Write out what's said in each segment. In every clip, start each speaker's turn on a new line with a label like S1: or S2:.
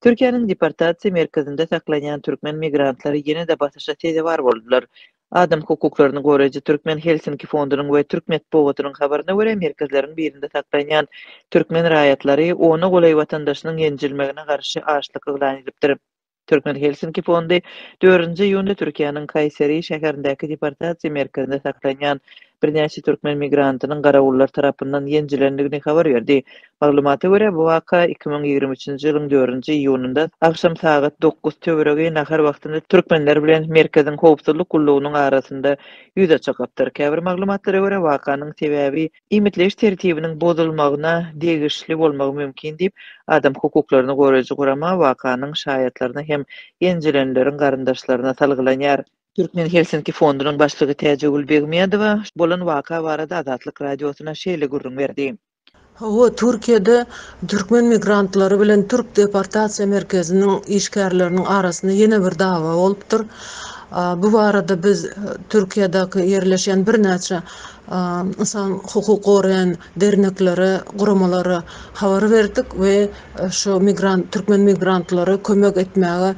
S1: Türkiýäniň deportasiýa merkezinde saklanýan türkmen migrantlary ýene-de basyşa sezewar boldular. Adam hukuklaryny goraýjy Türkmen Helsinki fondunyň we türk metbugatynyň habaryna görä, merkezleriň birinde saklanýan türkmen raýatlary ona golaý watandaşynyň ýenjilmegine garşy açlyk yglan edipdir. Türkmen Helsinki fondy dördünji iýunda Türkiýäniň Kaýseri şäherindäki deportasiýa merkezinde saklanýan birnäçe türkmen migrantynyň garawullar tarapyndan ýenjilendigini habar berdi. Maglumata görä, bu waka iki müň ýigrimi üçünji ýylyň dördünji iýunynda agşam sagat dokuz töweregi nahar wagtynda türkmenler bilen merkeziň howpsuzlyk gullugynyň arasynda ýüze çykypdyr. Käbir maglumatlara görä, wakanyň sebäbi iýmitleýiş tertibiniň bozulmagyna degişli bolmagy mümkin diýip, adam hukuklaryny goraýjy gurama wakanyň şaýatlaryna hem ýenjilenleriň garyndaşlaryna salgylanýar. Türkmen Helsinki fondunyň başlygy Täjegül Begmedowa bolan waka barada Azatlyk Radiosyna şeýle gürrüň berdi. Hawa, Türkiýede
S2: türkmen migrantlary bilen türk deportasiýa merkeziniň işgärleriniň arasynda ýene bir dawa bolupdyr. Bu barada biz Türkiýedäki ýerleşýän birnäçe ynsan hukuk goraýan derneklere, guramalara habar berdik we şu migrant türkmen migrantlara kömek etmäge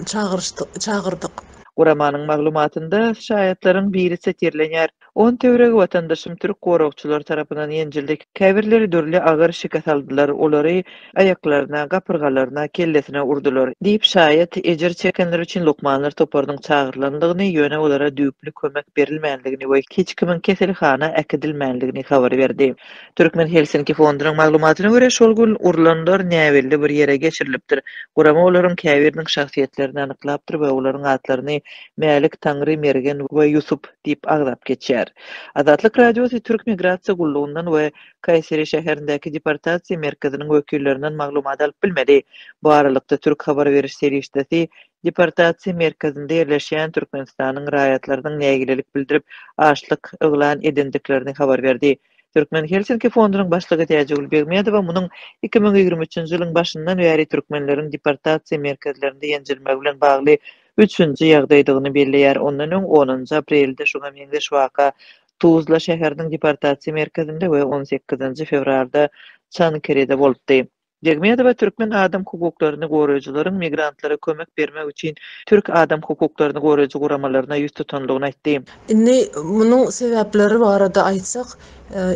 S2: çagyryşdyk çagyrdyk. Guramanyň maglumatynda
S1: şaýatlaryň biri setirlenýär, On töweregi watandaşym türk goragçylary tarapyndan ýenjildi, käbirleri dürli agyr şikes aldylar, olary aýaklaryna, gapyrgalaryna, kellesine urdular, diýip, şaýat ejir çekenler üçin lukmanlar toparynyň çagyrylandygyny, ýöne olara düýpli kömek berilmändigini we hiç kimiň keselhana äkidilmändigini habar berdi. Türkmen Helsinki fondunyň maglumatyna görä, şol gün urlanlar näbelli bir ýere geçirilipdir. Gurama olaryň käbiriniň şahsyýetlerini anyklapdyr we olaryň atlaryny Mälik, Taňry, Mergen we Ýusup diýip agzap geçýär. Azatlyk Radiosy Türk migrasiýa gullugyndan we Kaýseri şäherindäki deportasiýa merkeziniň wekillerinden maglumat alyp bilmedi. Bu aralykda, türk habar beriş serişdesi deportasiýa merkezinde ýerleşýän Türkmenistanyň raýatlarynyň nägilelik bildirip, açlyk yglan edendiklerini habar berdi. Türkmen Helsinki fondunyň başlygy Täjigül Begmedowa munuň iki müň ýigrimi üçünji ýylyň başyndan bäri türkmenleriň deportasiýa merkezlerinde ýenjirmegi bilen bagly üçünji ýagdaýdygyny belleýär, ondan öň onunjy aprelde şuňa meňzeş waka Tuzla şäheriniň deportasiýa merkezinde we on sekizinji fewralda Çankerede bolupdy. Begmedowa türkmen adam hukuklaryny goraýjylaryň migrantlara kömek bermek üçin türk adam hukuklaryny goraýjy guramalaryna ýüz tutandygyny aýtdy. Indi munuň
S2: sebäpleri barada aýtsak,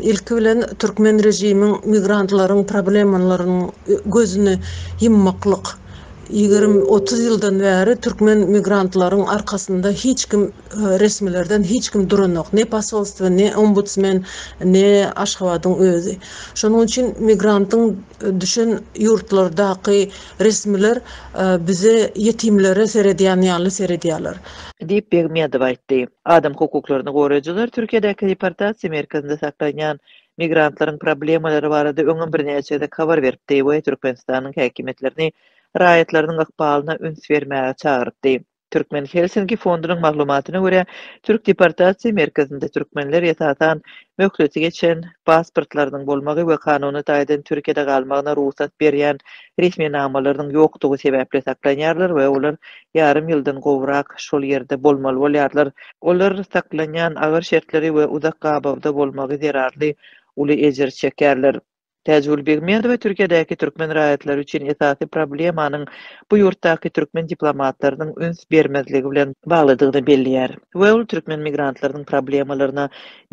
S2: ilki bilen, türkmen režimiň migrantlaryň problemalarynyň gözüni ýummaklyk. Ýigrimi, otuz ýyldan bäri türkmen migrantlaryň arkasynda hiç kim resmilerden hiç kim duranok. Ne posolstwo, ne ombudsmen, ne Aşgabadyň özi. Şonuň üçin migrantyň düşen ýurtlardaky resmiler bize ýetimlere seredýän ýaly seredýärler. Diýip, Begmýadow
S1: aýtdy. Adam hukuklaryny goraýjylar Türkiýedäki deportasiýa merkezinde saklanýan migrantlaryň problemalary barada öňem birnäçe gezek habar beripdi we Türkmenistanyň häkimiýetlerini raýatlarynyň ykbalyna üns bermäge çagyrypdy. Türkmen Helsinki fondunyň maglumatyna görä, türk deportasiýa merkezinde türkmenler esasan möhleti geçen pasportlarynyň bolmagy we kanuny taýdan Türkiýede galmagyna rugsat berýän resminamalarynyň ýokdugy sebäpli saklanýarlar we olar ýarym ýyldan gowrak şol ýerde bolmaly bolýarlar. Olar saklanýan agyr şertleri we uzak gabawda bolmagy zerarly uly ejir çekýärler. Täjigül Begmedowa Türkiýedäki türkmen raýatlary üçin esasy problemanyň bu ýurtdaky türkmen diplomatlarynyň üns bermezligi bilen baglydygyny belleýär we ol türkmen migrantlarynyň problemalaryna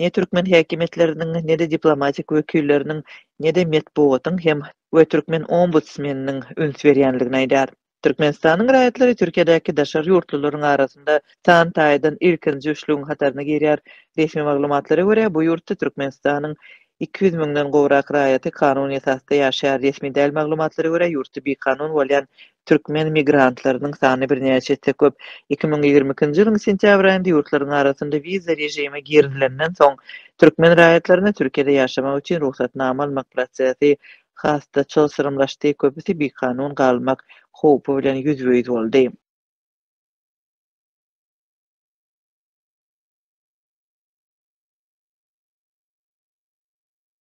S1: ne türkmen häkimiýetleriniň, ne-de diplomatik wekilleriniň, ne-de metbugatyň hem we türkmen ombudsmeniniň üns berýändigini aýdýar. Türkmenistanyň raýatlary Türkiýedäki daşary ýurtlularyň arasynda san taýdan ilkinji üçlügiň hataryna girýär. Resmi maglumatlara görä, bu ýurtda Türkmenistanyň iki ýüz müňden gowrak raýaty kanuny esasda ýaşaýar. Resmi däl maglumatlara görä, ýurtda bikanun bolýan türkmen migrantlarynyň sany birnäçe esse köp. Iki müň ýigrimi ikinji ýylyň sentýabr aýynda ýurtlaryň arasynda wiza režimi girizilenden soň, türkmen raýatlaryna Türkiýede ýaşamak üçin rugsatnama almak prosesi has-da çylşyrymlaşdy, köpüsi bikanun galmak howpy bilen ýüzbe-ýüz boldy.